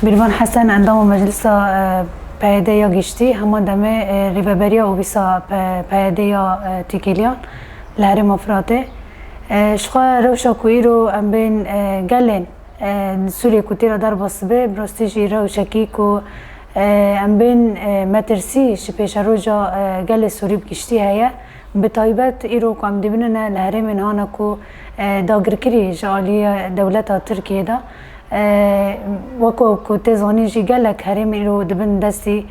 Mîrvan Hesen endama Meclisa PYD'ê ya Giştî heman demê Rêveberiya Ofîsa PYD'ê ya Têkiliyan li Herêma Firatê ji xwe rewşa ku îro em bên gelên li Sûriyê ku têra derbas dibe bi rastî jî rewşekî ku em bên metirsî ji pêşeroja gelê Sûrî bi giştî heye Bi taybet îro ku em dibînine li herêmên hane ku dagirkirî ji aliyê dewleta Tirkiyeyê de weke ku tê zanîn jî gelek herêm îro di bin destî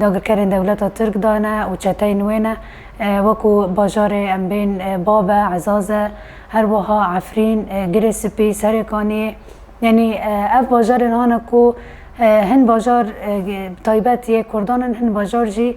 dagirkerên dewleta Tirk de ne û çeteyên wê ne wekû bajarê em bên Babe, Ezaze, her wiha Efrîn, Girê Sipî, Serê Kaniyê yanî ev bajarên hane ku hin bajar taybet yê kurdan in hin bajar jî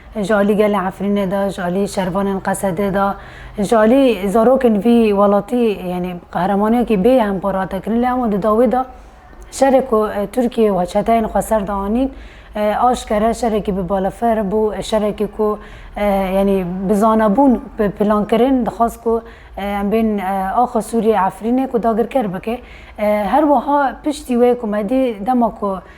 Ji alî gelê Efrînê de, ji alî şervanên Qesedê de, ji alî zarokên vî welatî yanî qehremaniyekî bê em par hate kirin. Lê hema di dawî de şerê ku Tirkiyê û çeteyên xwe ser de anîn aşkere şerekî bi balafir bû, şerekî ku yanî bi zanebûn bi plankirin dixwest ku em bên axa Sûriyê Efrînê ku dagirker bike. Her wiha piştî wê ku me dî dema ku,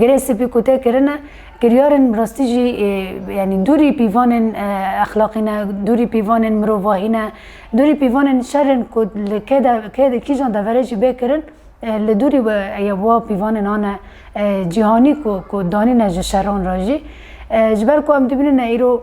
Girê spî ku tê kirine kiryarên bi rastî jî yanî dûrî pîvanên exlaqî ne, dûrî pîvanên mirovahî ne, dûrî pîvanên şerên ku li kê de kê de kîjan deverê jî bê kirin li dûrî wa pîvanên ane cîhanî ku ku danîne ji şeran re jî. Ji ber ku em dibînine îro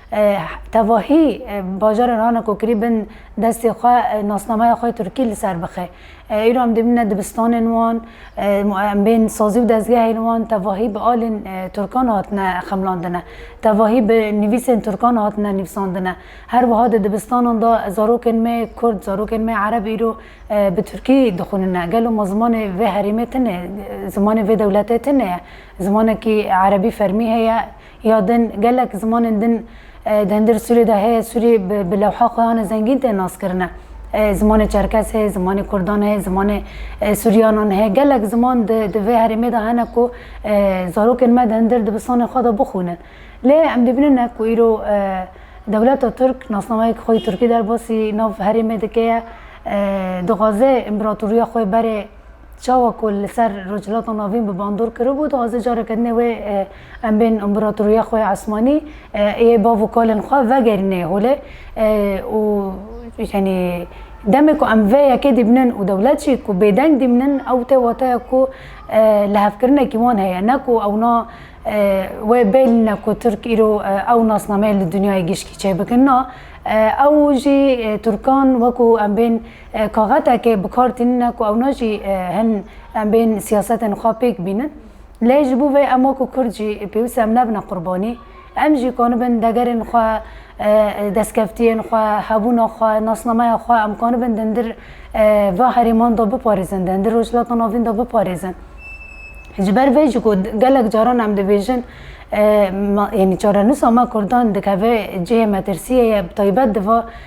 Tevahî bajarên rana ku kirî bin destê xwe nasnameya xwe Tirkî li ser bixe. Îro em dibîne dibistanên wan, em bên sazî û dezgehên wan tevahî bi alên Tirkan hatine xemilandine. Tevahî bi nivîsên Tirkan hatine nivîsandine. Her wiha di dibistanan de zarokên me Kurd, zarokên me Ereb îro bi Tirkî dixwînine. Gelo ma zimanê vê herêmê tune ye, zimanê vê dewletê tune ye. Zimanekî Erebî fermî heye. Ya din, gelek zimanên din di hundir Sûriyê de heye, Sûrî bi lewha xwe yan e zengîn tên naskirine. Zimanê Çerkes heye, zimanê Kurdan heye, zimanê Sûriyanan heye. Gelek ziman di di vê herêmê de hene ku zarokên me di hundir dibistanên xwe de bixwînin. Lê em dibînin ne ku îro dewleta Tirk nasnameyek xwe yê Tirkî derbasî nav herêmê dike ye, dixwaze împeratoriya xwe berê. Çawa ku li ser Rojhilata Navîn bi bandor kiribû, dixwaze careke dinê wê em bên împeratoriya xwe ya Esmanî ê bav û kalên xwe vegerînê holê û yanî demê ku em vê yekê dîbinin û dewlet jî ku bêdeng dîbinin ew tê wataya ku lihevkirinekî wan heye ne ku ewna wê bêlîne ku Tirk îro ew nasnameyê li dinyayê gişkî çêbikin na ew jî Tirkan wekû em bên Kaxetekê bi kar tînine ku ewna jî hin em bên siyasetên xwe pêk bînin. Lê ji bo vê em wek ku Kurd jî pêwîst e em nebine qurbanî. Em jî kanibin degerên xwe, destkeftiyên xwe, hebûna xwe, nasnameya xwe em kanibin dindir va herêman de biparêzin, dindir Rojhilata Navîn de biparêzin. Ji ber vê jî ku gelek caran em dibêjin yanî çarenûsa me Kurdan dikeve cihê metirsiyê ye bi taybet di va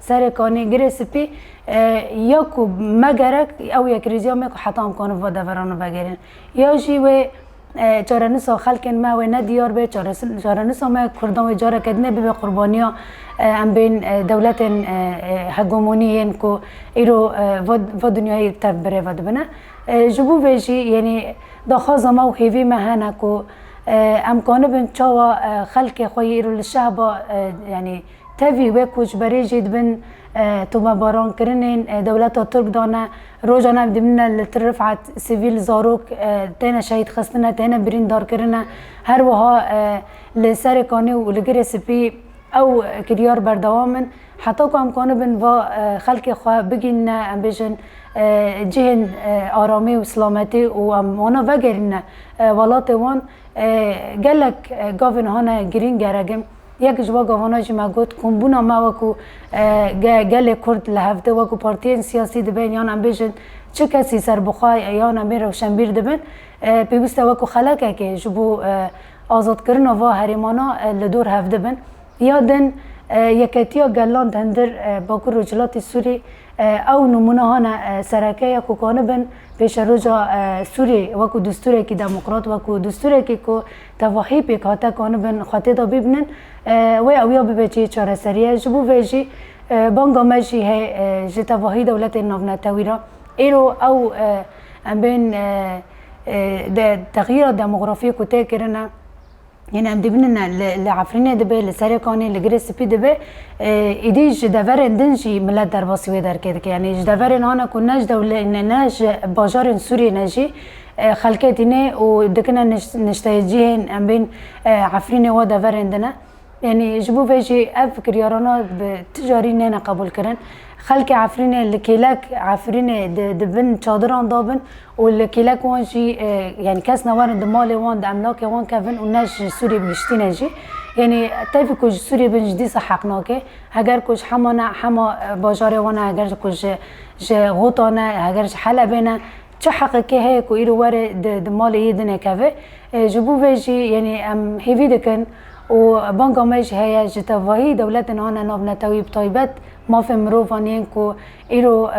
Serê Kanêgirê Spî ya ku me gerek ew yekrîziya me ku heta em karin va deveran û vegerên. Ya jî wê çarenûsa xelkên me wê ne diyar be, çarenûsa me kurdan wê careke din ê bibe qurbaniya em bên dewletên hegemonî yên ku îro va dinyayê tev bi rê ve dibine. Ji bo vê jî yenî daxwaza me û hêvî me hene ku em kanibin çawa xelkê xwe yê îro li şehba yenî Tevî wê koçberê jî dibin tomebarankirinên dewleta Tirk de ne. Rojan ev dimîne li Til Rifet sivîl zarok têne şehîdxistine, têne birîndarkirine. Her wiha li Serêkanê û li Girê Spî ew kiryar berdewam in. Heta ku em kanibin va xelkê xwe bigihînine em bêjin cihên aramî û silametî û em wana vegerînine welatê wan, Gelek gavên hane girîng geregin. Yek ji we gavana jî me got ku bûna me wekû gelê Kurd li hev de wekû partiyên siyasî dibin yan em bêjin çi kesî serbixwe yan em ê rewşenbîr dibin pêwîste wekû xelekekê ji bo azadkirina va herêmana li dor hev dibin. Ya din Yeketiya Gelan Dendir Bakur Rojhilatê Sûrî Ew nimûneha ne sereke ye ku kanibin pêşeroja Sûriyê wekû distûrekî demokrat, wekû distûrekî ku tevahî pêk hate kanibin xwe têda bîbinin. Wê ew ya bibe cihê çareseriyê. Ji bo vê jî banga me jî heye ji tevahî dewletên navnetewî re. Îro ew em bên di texyîra demografiyê ku tê kirine, Yên em dibînin e li li Efrînê dibe, li Serêkanê, li Girê Spî dibe. Îdî ji deverên din jî milet derbasî wê derkê dike. Yanî ji deverên hane ku ne ji dewle ne ne ji bajarên Sûriyê ne jî xelkê tîne û dikine nişteyecihên em bên Efrînê wa deverên din e. Yanî ji bo vê jî ev kiryarana bi ti carî neyne qebûlkirin. Xelkê Efrînê li kêlek Efrînê di di bin çadiran dabin. û li kêlek wan jî yanî kes newerin di malê wan di emlakê wan kevin û ne ji Sûriyê bi giştî ne jî yanî tevî ku ji Sûriyê bin jî dîsa heq nake heger ku ji hema ne hema bajarê wan e heger ku ji ji Ghûta ne heger ji Helebê ne çi heqekê heye ku îro were di di malê yê din keve ji bo vê jî yanî em hêvî dikin û banga me jî heye ji tevahî dewletên ane nav netewî bi taybet mafên mirovan yên ku Îro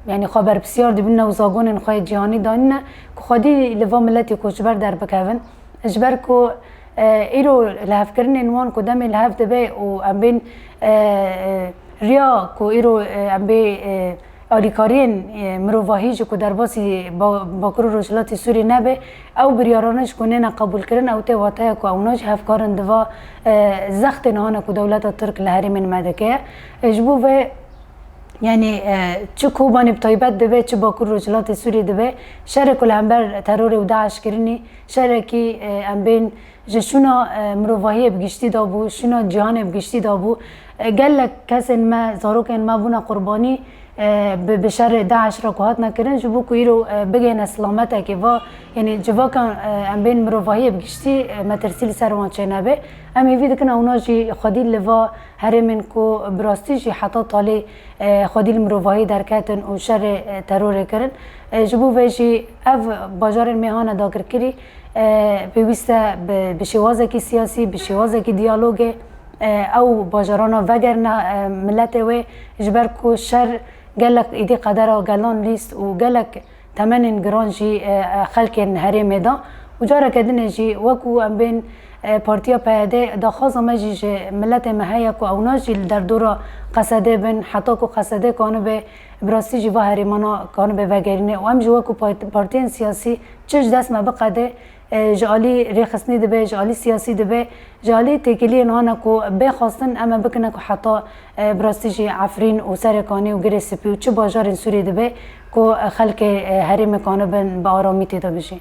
yanî xwe berpisyar dibîne û zagonên xwe yê cîhanî danîne ku xwedî li va miletê koçber derbikevin. Ji ber ku îro li hevkirinên wan ku demê li hev dibe û em bên riya ku îro em bê alîkariyên mirovahî jî ku derbasî Bakur û Rojhilatê Sûriyê nebe, ew biryarane jî ku nêne qebûlkirin ew tê wateya ku ewna jî hevkarin di va zextên hane ku dewleta Tirk li herêmên me dike. Ji bo vê Yanî çi Kobanê bi taybet dibe çi Bakur Rojhilatê Sûriyê dibe şerê ku li hember terorê û DAIŞ kirinî şerekî em bên ji şûna mirovahiyê bi giştî de bû, şûna cîhanê bi giştî de bû. Gelek kesên me, zarokên me bûne qurbanî bi şerê DAIŞ re ku hatine kirin ji bo ku îro bigihîne silametekê va yanî civaka em bên mirovahiyê bi giştî metirsî li ser wan çênebe. Em hêvî dikin ewna jî xwedî li va Herêmên ku bi rastî jî heta talê xwedî li mirovahiyê derketin û şerê terorê kirin, ji bo vê jî ev bajarên mêhan e dakirkirî pêwîst e bi şêwazekî siyasî, bi şêwazekî diyalogê ew bajarana vegerine miletê wê ji ber ku şer gelek êdî qedera gelan lîst û gelek Temenên giran jî xelkên herêmê da û careke din e jî weku em bên Partiya PYD'ê daxwaza me jî ji miletê me heye ku ew najî li derdora Qesedê bin heta ku Qesedê kanibe bi rastî jî va herêmana kanibe vegerîne û em jî weku partiyên siyasî çi ji dest me biqede Ji alî rêxistinê dibe, ji alî siyasî dibe, ji alî têkiliyên wan e ku bê xwestin em e bikine ku heta bi rastî jî Efrîn û Serê Kanî û Girê Spî û çi bajarên Sûriyê dibe ku xelkê herêmê kanibin bi aramî tê de bijîn.